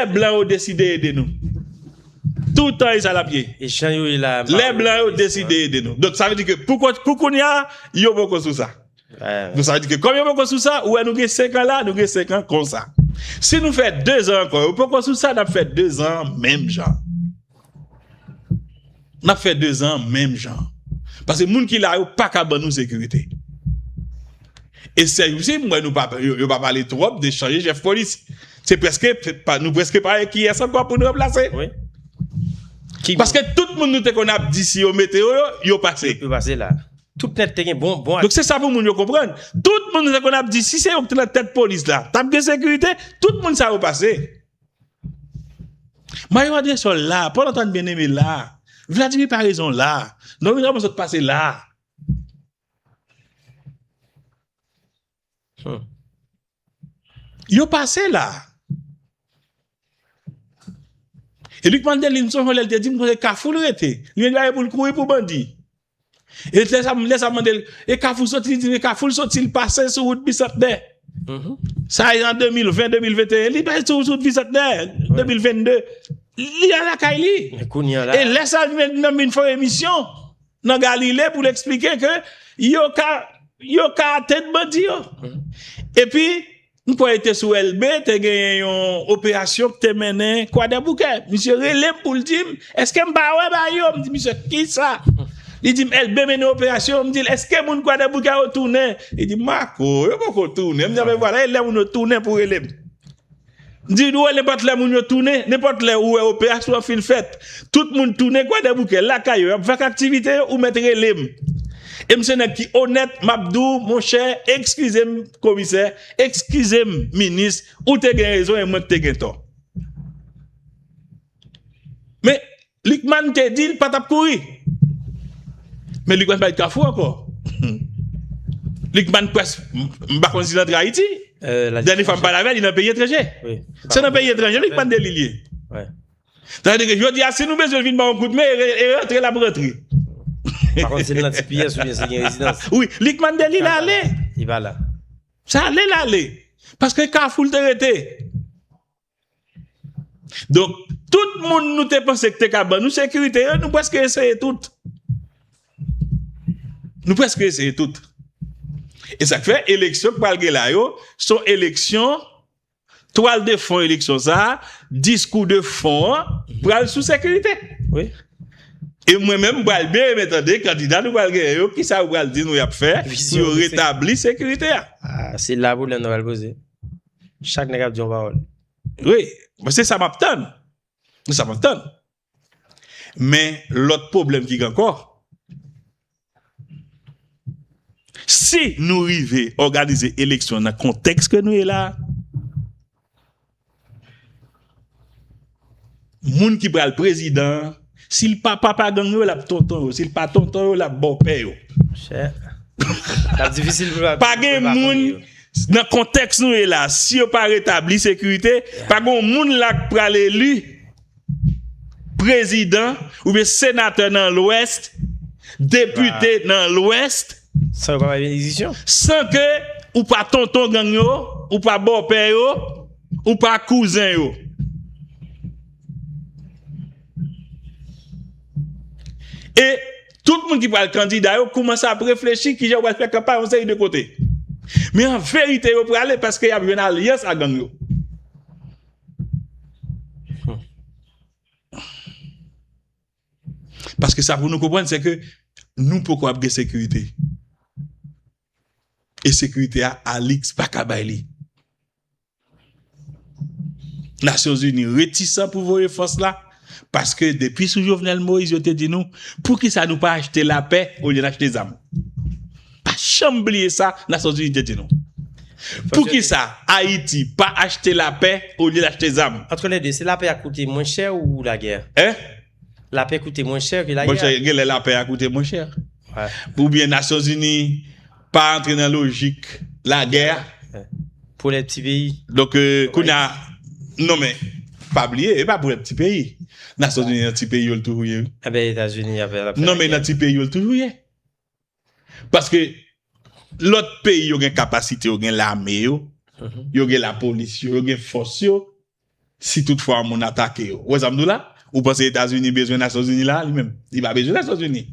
Lè blan yo deside ede nou. Toutan e sa lap ye. E jan yo ye la a. Lè blan yo deside ede nou. Donk sa vle di ke pou kont pou kounya yo poko sou sa. Donk sa vle di ke kòm yo poko sou sa ou wè nou gen 5 an la nou gen 5 an konsa. Si nou fè 2 zan ankò yo poko sou sa nap fè 2 zan menm jan. Nap fè 2 zan menm jan. Pase moun ki la yo paka ban nou sekirite. E sèjousi m wè nou pa yo pa pale twòp de chanje chèf polis. Se prèske nou prèske pa wè kiyès ankò pou nou ranplase. Paske tout moun nou te konn ap di si yo mete yo yo yo pase. Yo pase la. Tout nèt te gen bon bon. Donk se sa pou moun yo konprann. Tout moun nou te konn ap di si se yo ki te nan tèt polis la tap gen sekirite tout moun sa yo pase. Mayo Adrien Sol la, Paul Antoine Bien-Aimé la, Vladimir Paraison la, Norine Ramos sot pase la. Yo pase la. E Luc Mandelli, m sonje lè l te di m kote kafou l rete. Li menm li pa gen pou l kouri pou bandi. E lè sa mwen mande l, e kafou l soti, li di men kafou l soti li pase sou wout bisantnè. Sa e an 2020, 2021, li pase sou wout bisantnè, 2022, li al lakay li. E lè sa l nan vin fè yon emisyon nan galile pou l eksplike ke yo ka atenn bandi yo. E pi. M kwè li te sou Elbe, te genyen yon operasyon ki te mennen Kwadèboukè. Misye rele m pou l di m, èske m pa wè bagay yo? M di misye, kisa? Li di m, Elbe mennen operasyon. M di l, èske moun Kwadèboukè yo tounen? Li di m, Mako, yo poko tounen. M di l, Anben vwala, e lè moun yo tounen pou w rele m? M di l, Ou wè nenpòt lè moun yo tounen? Nenpòt lè ou wè operasyon an fin fèt, tout moun tounen Kwadèboukè, lakay yo, y ap fè aktivite yo, ou mèt rele m. E m se nèg ki onèt, m ap di w, monchè, ekskize m. Komisè, Ekskize m, minis, ou te gen rezon e mwen ki te gen tò. Men, Lucmane te di l pa t ap kouri. Men Lucmane pa t Kafou ankò. Lucmane prèsk, m pa konn si l antre Ayiti. Dènye fwa m pale avè l, li nan peyi etranje. Se nan peyi etranje Lucmane Delille ye. Sa vle di ke jodi a si nou bezwen l vin ba yon kout men e rantre l ap rantre. Pa konn si l nan ti pyès oubyen si l gen rezidans. Wi, Lickmann Delly l ale. Li pa la. Sa ale l ale. Paske Kafou l te rete. Donk, tout moun nou te panse ki te ka ban nou sekirite yo nou prèske eseye tout. Nou prèske eseye tout. E sa k fè eleksyon k pral gen la yo son eleksyon Twal de fon eleksyon sa a, diskou de fon an pral sou sekirite. E mwen menm m pral byen renmen tande kandida nou pral genyen yo kisa yo pral di nou y ap fè pou yo retabli sekirite a. A, se la pwoblèm nan pral poze. Chak nèg ap di yon pawòl. Wi, mwen se sa m ap tann. Se sa m ap tann. Men lòt pwoblèm ki gen ankò, si nou rive òganize eleksyon nan kontèks ke nou ye la, moun ki pral prezidan an, si l pa papa gang yo, l ap tonton yo, si l pa tonton yo, l ap bòpè yo. Pa gen moun, nan kontèks nou ye la, si yo pa retabli sekirite, pa gen yon moun la k pral eli. Prezidan oubyen senatè nan lwest, depite nan lwest. San yo pa bay benedisyon. San ke ou pa tonton gang yo, ou pa bòpè yo, ou pa kouzen yo. E tout moun ki pral kandida yo koumanse ap reflechi ki jan yo pral fè kanpay yon seri de kote. Men an verite yo prale paske y ap jwenn alyans ak gang yo. Paske sa pou nou konprann se ke nou poko ap gen sekirite. E sekirite a Alix pa ka bay li. Nasyon Zini retisan pou voye fòs la Paske depi sou Jovenel Moïse yo te di nou poukisa nou pa achte lapè olye n achte zam. Pa janm bliye sa Nasyonzini te di nou. Poukisa Ayiti pa achte lapè olye l achte zam. Antre lè 2, se lapè a koute mwen chè ou lagè a? Hein? Lapè koute mwen chè ke lagè a? Monchè, genlè lapè a koute mwen chè. Oubyen Nasyonzini Pa antre nan lojik lagè a. Pou lè ti peyi. Donk kounya non men pa bliye e pa pou lè ti peyi. Nasyonzini nan ti peyi yo l toujou ye wi. Enben Etazini ap fè lagè. Non men nan ti peyi yo l toujou ye. Paske lòt peyi yo gen kapasite yo gen lame yo, yo gen lapolis yo, yo gen fòs yo. Si tout fwa yon moun atake yo. Ou wè sa m di w la? Ou panse Etazini bezwen Nasyonzini la a li menm? Li pa bezwen Nasyonzini.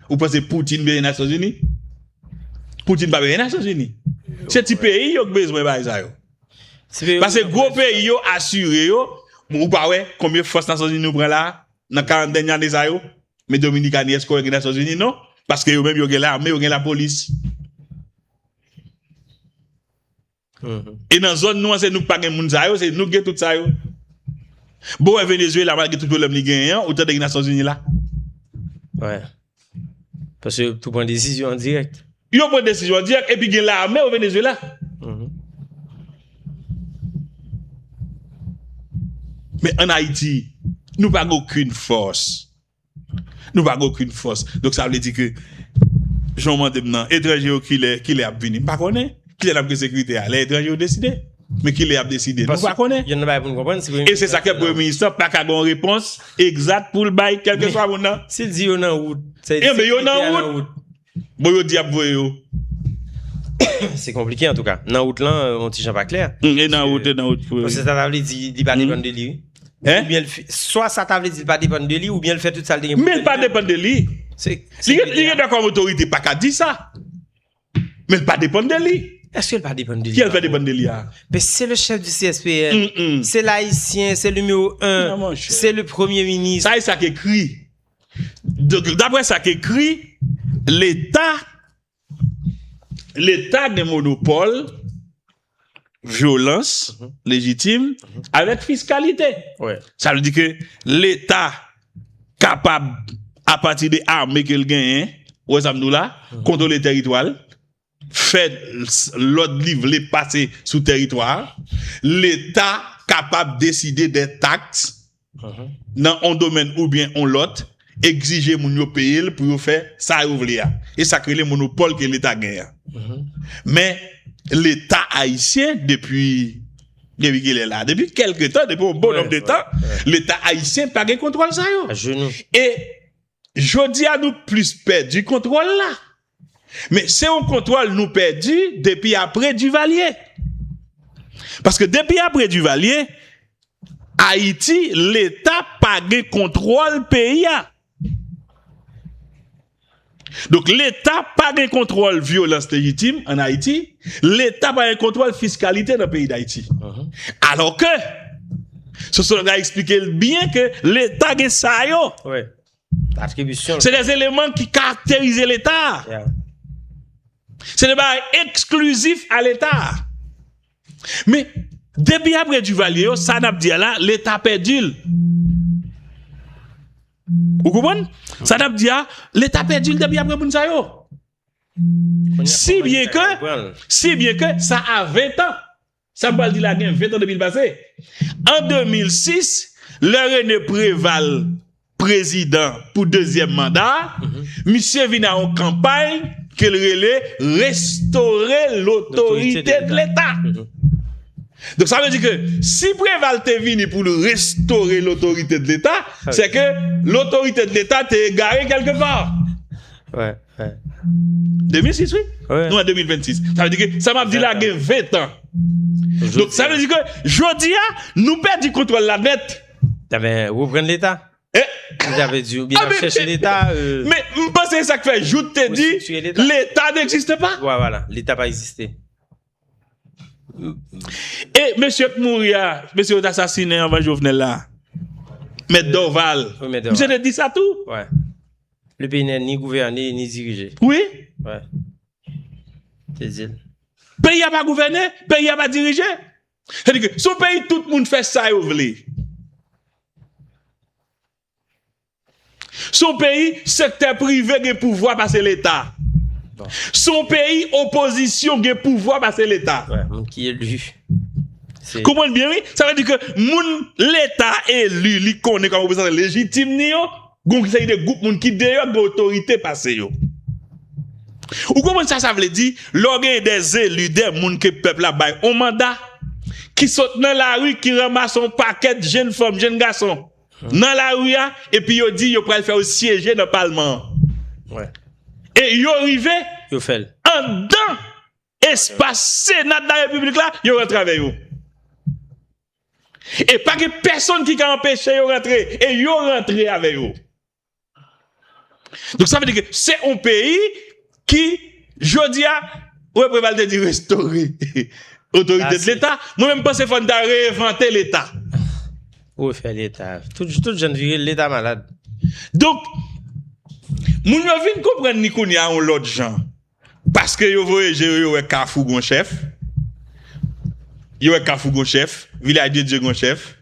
Ou panse Poutin bezwen Nasyonzini? Poutin pa bezwen Nasyonzini. Se ti peyi yo k bezwen bagay sa yo. Pase gwo peyi yo asire yo. Ou pa wè konbyen fòs Nasyonzini nou pran la a nan 40 dènye ane sa yo? Men Dominikani èske w wè gen Nasyonzini? Non. Paske yo menm yo gen lame, yo gen lapolis. E nan zòn nou an se nou k pa gen moun sa yo, se nou k gen tout sa yo. Bon wè Venezuela malgre tout pwoblèm li genyen an, ou tande gen Nasyon Zini la? Wè. Paske yo tou pran desizyon an dirèk. Yo pran desizyon an dirèk epi gen lame o Venezuela. Men an Ayiti, nou pa gen okenn fòs. Nou pa gen okenn fòs. Donk sa vle di ke, jan w mande m nan, etranje yo kilè, kilè y ap vini? M pa konnen. Kilè n ap gen sekirite a? Lè etranje yo deside. Men kilè y ap deside? Nou pa konnen. Yon nan bagay pou n konprann, si premye minis lan. E se sa k fè premye minis lan pa ka gen yon repons egzat pou l bay kèlkeswa moun nan. Si l di yo nan wout, sa vle di sekirite a nan wout. Bon yo di yap voye yo. Se konplike antouka. Nan wout lan yon ti jan pa klè. E nan wout e nan wout pou. Paske sa ta vle di li pa depann de li wi. Hein? Oubyen swa sa ta vle di li pa depann de li oubyen li fè tout sa li te gen pou fè. Men li pa depann de li. Se li gen li gen dwa kòm otorite pa ka di sa. Men li pa depann de li. Eske li pa depann de li. Kiyès li pa depann de li a? Men se le chèf di CSPN. Se l ayisyen, se nimewo 1. Se le premye minis. Sa e sa k ekri. Dapre sa k ekri, Leta Leta gen monopòl vyolans lejitim avèk fiskalite. Sa vle di ke Leta kapab apati de ame ke l genyen, ou wè sa m di w la, kontwole teritwa l. fè lòd li vle pase sou tèritwa a, Leta kapab deside dè taks nan on domèn oubyen on lòt, egzije moun yo peye l pou yo fè sa yo vle a. E sa k rele monopòl ke Leta gen an. Men, Leta ayisyen depi, depi ki lè la? Depi kèlke tan, depi on bon nonb de tan, Leta ayisyen pa gen kontwòl sa yo. E Jodi a nou plis pèdi kontwòl la. Men se yon kontwòl nou pèdi depi apre Divalye. Paske depi apre Divalye, Ayiti, leta pa gen kontwòl peyi a. Donk leta pa gen kontwòl vyolans lejitim an Ayiti. Leta pa gen kontwòl fiskalite nan peyi Dayiti. Alò ke, Soso Langa eksplike l byen ke Leta gen sa yo. Wi. Atribisyon. Se de eleman ki karakterize Leta. Ya. Se de bagay eksklizif a Leta. Men, depi apre Duvalier yo, sa n ap di a la, Leta pèdi l. Ou konprann? Sa n ap di a, Leta pèdi l depi apre moun sa yo. Si byen ke, si byen ke sa a 20 tan. Sa m pral di la gen 20 tan depi l pase. An 2006, lè René Préval prezidan pou dezyèm manda, misye vin a yon kanpay ke l rele restore lotorite de leta. Donk sa vle di ke si Préval te vini pou l restore lotorite de leta, se ke lotorite de leta te egare kelke pa. Wè, wè. 2006 wi. Wè. Nou an 2026. Sa vle di ke sa map di la gen 20 tan. Donk sa vle di ke jodi a nou pèdi kontwòl la nèt. Tamen reprann leta. E. Ou ta vle di ou byen ap chèche leta. Men m panse se sa k fè Jouthe te di leta n'existe pas. Wè wala, leta pa egziste. E mesye k mouri a, mesye yo t asasinen anvan Jovenel la, Mèt Dorval, misye te di sa tou. Wè. Le peyi nè ni gouvène ni dirije. Wi. Wè. Te di l. Peyi a pa gouvène, peyi a pa dirije. Se di ke se yon peyi tout moun fè sa yo vle. Se yon peyi sektè prive gen pouvwa pase leta. Se yon peyi opozisyon gen pouvwa pase leta. Moun ki elu. Konprann byen wi. Sa vle di ke moun leta elu li konnen kòm reprezantan lejitim ni yo, gen yon seri de gwoup moun ki deyò ki gen otorite pase yo. Ou konprann sa sa vle di lè w gen de elu, de moun ke pèp la bay yon manda ki sot nan lari ki ranmase yon pakèt jenn fanm, jenn gason. nan lari a epi yo di yo pral fè yo syeje nan palman an e yo rive andan espas senat la repiblik la yo rantre avè yo e pa gen pèsonn ki ka anpeche yo rantre e yo rantre avè yo. Donk sa vle di ke se yon peyi ki jodi a wè Preval te di restore otorite de leta mwen menm panse fòn ta reenvante leta. Refè leta. Tout jan n vire l leta malad. Donk moun yo vin konprann li kounya yon lòt jan. Paske yo voye je yo, yo wè Kafou gon chèf, yo wè Kafou gon chèf, Vilaj de Dye gon chèf,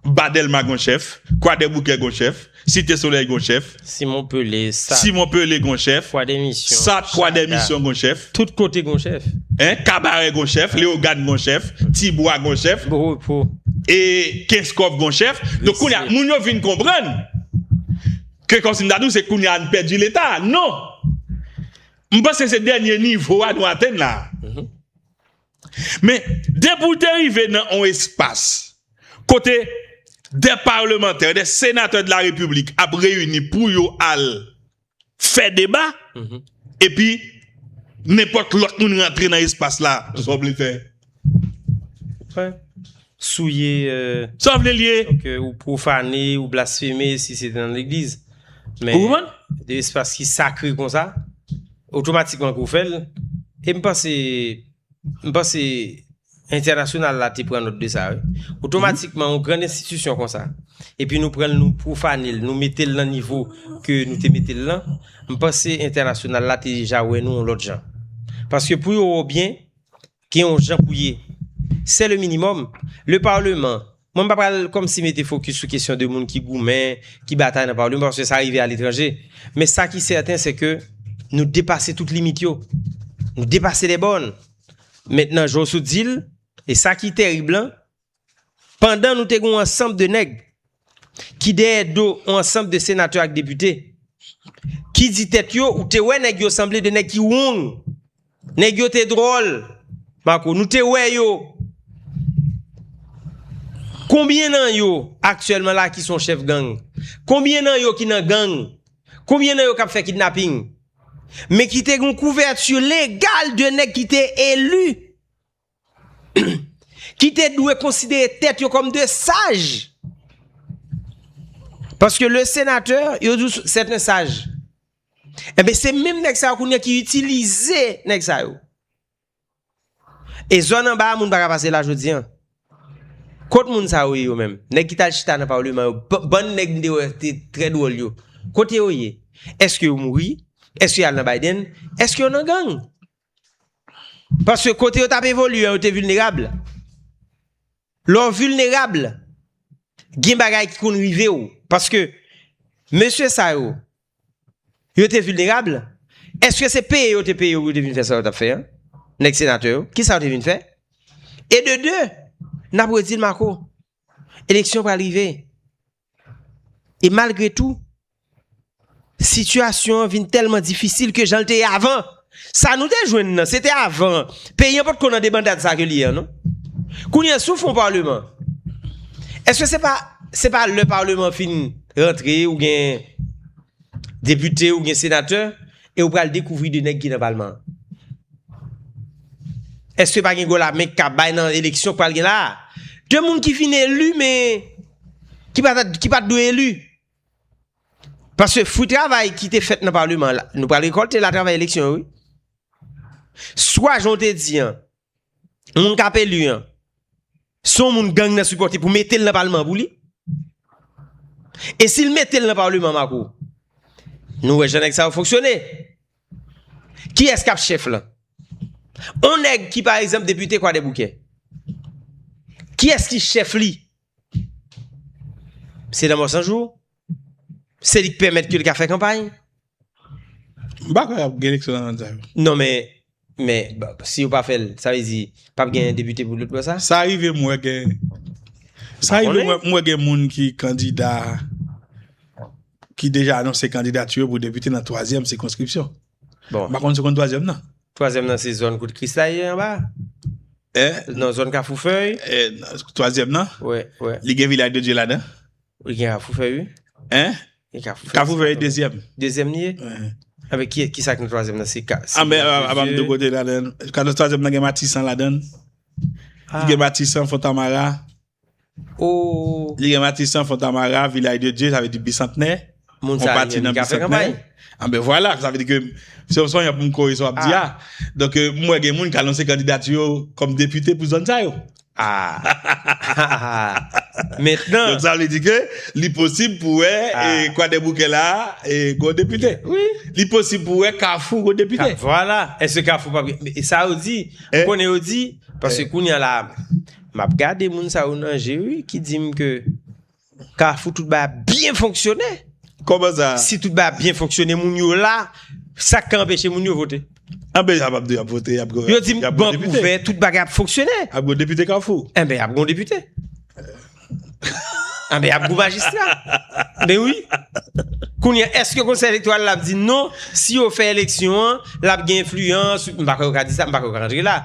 Ba Dèlma gon chèf, Kwa Dèboukè gon chèf, Site Solèy gon chèf, Simon Pele, Sat, Kwa Dèmisyon gon chèf, Kabarè gon chèf, Lewogàn gon chèf, Ti Bwa gon chèf, Kenskòf gon chèf. Donk kounye a, moun yo vin konprann Ke kòmsi m ta di w se kounye a n pèdi leta a. Non! M panse se dènye nivo a nou atenn la a. Men, depi w te rive nan yon espas kote de parlemantè, de senatè de la repiblik ap reyini pou yo al fè deba, epi nenpòt lòt moun rantre nan espas la, sa w vle fè? Souye, ou pwofane, ou blasfeme si se nan legliz. Men, de espas ki sakre kon sa, otomatikman ke ou fè l. E m panse, m panse, entènasyonal la te pran nòt de sa. Otomatikman, yon gran enstitisyon kon sa, epi nou pran l, nou pwofane l, nou mete l nan nivo ke nou te mete l lan, m panse entènasyonal la te deja wè nou yon lòt jan. Paske pou yo wè w byen. gen yon jan pou ye. Sè le minimòm. Le parleman, mwen m pa pral kòmsi mete fokis sou kesyon de moun ki goumen, ki batay nan parleman paske sa rive aletranje. Men sa ki sèten se ke nou depase tout limit yo. Nou depase lè bòn. Mentnan jan w sot di l, e sa ki terib lan, pandan nou te gen yon ansanb de nèg ki dèyè do yon ansanb de senatè ak depite ki di tèt yo ou te wè nèg yo sanble de nèg ki wong, nèg yo te dwòl, Marco, nou te wè yo. Konbyen nan yo aktyèlman la ki son chèf gang? Konbyen nan yo ki nan gang? Konbyen nan yo k ap fè kidnaping? Men ki te gen yon kouvèti legal de nèg ki te eli ki te dwe konsidere tèt yo kòm de saj, paske le senatè yo di w sèt en saj, enben se menm nèg sa yo kounye ki itilize nèg sa yo. E zòn anba a moun pa ka pase la jodi an. Kot moun sa yo ye yo menm? Nèg ki t al chita nan palema yo, bann nèg m te wè te trè dwòl yo, kote yo ye? Eske yo mouri? Eske y al nan Biden? Eske yo nan gang? Paske kote yo tap evolye an yo te vilnerab. Lè w vilnerab, gen bagay ki konn rive w. Paske, mesye sa yo, yo te vilnerab, eske se peye yo te peye yo pou yo te vin fè sa yo tap fè an? Nèg senatè yo, ki sa yo te vin fè? E de de, nap redi l Marco, eleksyon pral rive, E malgre tou, sitiyasyon an vin tèlman difisil ke jan l te ye avan. Sa nou te jwenn nan, se te avan. Peyi an pa t ko nan debandad sa ke li ye an non. Kounye a, si w fè yon paleman, èske se pa se pa lè paleman fin rantre ou gen depite ou gen senatè e ou pral dekouvri de nèg ki nan palman an? Èske pa gen gwo lame k ka bay nan eleksyon k pral gen la a? De moun ki fin eli men. ki pat dwe elu. Paske fwi travay ki te fèt nan palman, nou pral rekolte la travay eleksyon yo. Swa jan w te di an, moun kap elu an, son moun gang nan sipote pou mete l nan palman pou li. E si l mete l nan palman mako, nou wè jan nèg sa yo fonksyone. Ki es kap chef lan? On nèg ki pa egzanp depite kwa deboukè. Ki es ki chef li Se lanmò san jou? Se li k pèmèt ke li ka fè kanpay? M pa kwè ap gen eleksyon nan lannda yo. Non men, men, si yo pa fè l, sa vle di, pa p gen depite pou lòt bò sa? Sa rive m wè gen, sa rive m wè gen moun ki kandida, ki deja anonse kandidatio pou depite nan twazyèm sikonskripsyon. Bon. M pa konn si w konn twazyèm nan. Twazyèm nan se zòn kote kris la ye anba a? E? Nan zòn kafoufèy? E, twazyèm nan? Wè, wè. Li gen vilaj de Dye ladan? Li gen kafoufèy wi. E? Gen kafoufèy. Kafoufèy e dezyèm. Dezyèm li ye? Wè. Anben ki ki sa ki nan twazyèm nan se ka? Anben a banm de kote ladan. Ka nan twazyèm nan gen matisan ladan. Li gen matisan, fontamara. Ooh. Li gen Matisan, Fontamara, Vilaj de Dye, sa vle di Bisantnè. Moun sa yo menm ki ka fè kanpay. An ben vwala, sa vle di ke se yon swen yon pou m kore sa w ap di a. Donk m wè gen moun ki anonse kandidati yo kòm depite pou zòn sa yo. Ahh. Mentnan. Donk sa vle di ke li posib pou wè Kwadèboukè la a gen yon depite. Wi. Li posib pou wè Kafou gen depite. Vwala. Èske Kafou pap gen. Sa yo di, m konnen yo di, paske kounye a la a. Map gade moun sa yo nan je wi ki dim ke kafou tout bagay ap byen fonksyone. Koman sa? Si tout bagay ap byen fonksyone moun yo la sak ka anpeche moun yo vote? Anben yap ap di yap vote yap gen. Yo dim bank ouvè tout bagay ap fonksyone. Ap gen depite kafou? Anben ap gen depite. Anben ap gen majistra. Ben wi. Kounya eske konsèy elektoral la ap di non si yo fè eleksyon an lap gen enfliyans, m pa kwè yo ka di sa, m pa kwè yo ka rantre la.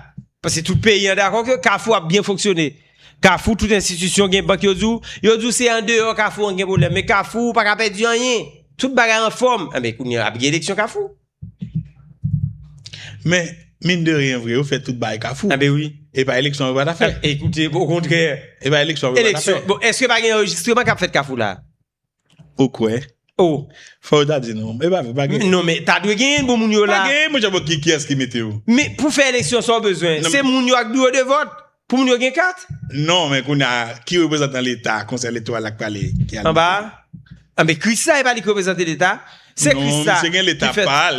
Paske tout peyi an dakò ke kafou ap byen fonksyone. Kafou tout enstitisyon gen bank yo di w, yo di w se andeyò kafou an gen pwoblèm men kafou ou pa ka pèdi anyen. Tout bagay anfòm. Enben kounye a ap gen eleksyon kafou. Men, min de ryen vre yo fè tout bagay kafou. Enben wi. E pa eleksyon yo pa ta fè. Ekoute, okontrè. E pa eleksyon yo pa ta fè. Eleksyon, bon eske pa gen anrejistreman k ap fèt kafou la? Ou kwè? Oh! Fò yo ta di nou. E pa vre, pa gen. Non men, ta dwe gen pou moun yo la. Pa gen, monchè bon kiyès ki mete yo? Men, pou fè eleksyon sa w bezwen? Se moun yo ak biwo de vòt? Pou moun yo gen kat? Non, men kounye a, ki reprezantan leta konsèy elektoral la k prale ki al mete yo? Anba a? Anben, Christ la e pa li ki reprezante leta? Se Christ la ki fèt. Non, misye gen leta pa l.